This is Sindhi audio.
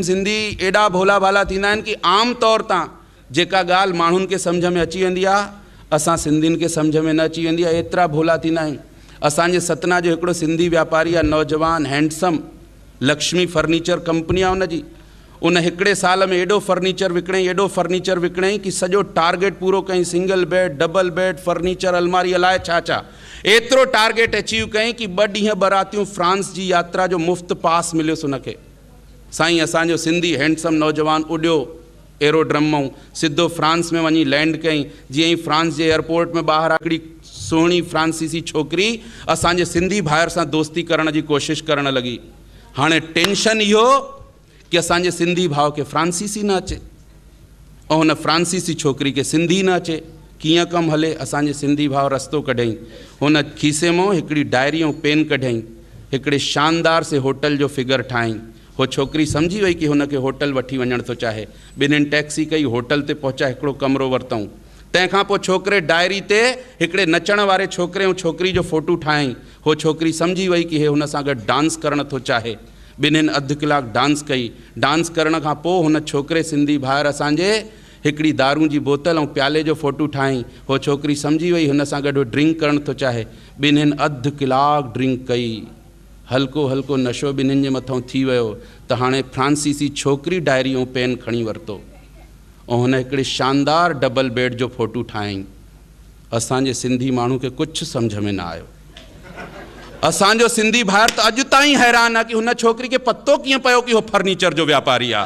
سنڌي ايڏا ڀولا ڀالا ٿيندا آهن ڪي عام طور تان جيڪا ڳالهه ماڻهن کي سمجهه ۾ اچي ويندي آهي اسان سنڌين کي سمجهه ۾ نه اچي ويندي آهي ايترا ڀولا ٿيندا آهيون اسان جي ستنا جو هڪڙو سنڌي واپاري آهي نوجوان هينڊسم لڪشمي فرنيچر ڪمپني آهي ان جي ان هڪڙي سال ۾ ايڏو فرنيچر وڪڻيائين ايڏو فرنيچر وڪڻيائين ڪي سڄو ٽارگيٽ پورو ڪيائين single bed double bed furniture الماري الاء ڇا ڇا ايترو ٽارگيٽ اچيو ڪيائين ڪي ٻه ڏينهن ٻه راتيون فرانس جي ياترا جو مفت پاس مليس ان کي سائين اسان جو سنڌي هينڊسم نوجوان اڏيو ايرو ڊرم مئون سڌو فرانس ۾ وڃي لينڊ ڪيئي جيئن ئي فرانس جي ايئر پورٽ ۾ ٻاهر آيو هڪڙي سهڻي فرانسيسي ڇوڪري اسان جي سنڌي ڀائر سان دوستي ڪرڻ جي ڪوشش ڪرڻ لڳي هاڻي ٽينشن اهو ڪي اسان جي سنڌي ڀاء کي فرانسيسي نه اچي. او هن فرانسيسي ڇوڪري کي سنڌي نه اچي، ڪيئن ڪم هلي؟ اسان جي سنڌي ڀاء رستو ڪڍيائين. هن کيسي مئو هڪڙي ڊائري ۽ پين ڪڍيائين. هڪڙي شاندار سي هوٽل جو فگر ٺاهيائين. هوء ڇوڪري سمجهي وئي ڪي هن کي هوٽل وٺي وڃڻ ٿو چاهي. ٻنهين ٽئڪسي ڪئي، هوٽل تي پهچا هڪڙو ڪمرو ورتائون. تنهن کان پوء ڇوڪري ڊائري تي هڪڙي نچڻ واري ڇوڪري ۽ ڇوڪري جو فوٽو ٺاهيائين. هوء ڇوڪري سمجهي وئي ڪي هي هن سان گڏ ڊانس ڪرڻ ٿو چاهي. ٻنهين اڌ ڪلاڪ ڊانس ڪئي. ڊانس ڪرڻ کان پوء هن ڇوڪري سنڌي ڀائر اسان جي هڪڙي دارون جي بوتل ۽ پيالي جو فوٽو ٺاهيائين. هوء ڇوڪري سمجهي وئي هن سان گڏ هو ڊرنڪ ڪرڻ ٿو چاهي. ٻنهين اڌ ڪلاڪ ڊرنڪ ڪئي. هلڪو هلڪو نشو ٻنهين جي مٿئون ٿي ويو ته هاڻي فرانسيسي ڇوڪري ڊائري ۽ پين کڻي ورتو ۽ هن هڪڙي شاندار ڊبل بيڊ جو فوٽو ٺاهيائين. اسان جي سنڌي ماڻهو کي ڪڇ سمجهه ۾ نه آيو اسان جو سنڌي ڀائر ته اڄ تائين حيران آ ڪي هن ڇوڪري کي پتو ڪيئن پيو ڪي هو فرنيچر جو وياپاري آ.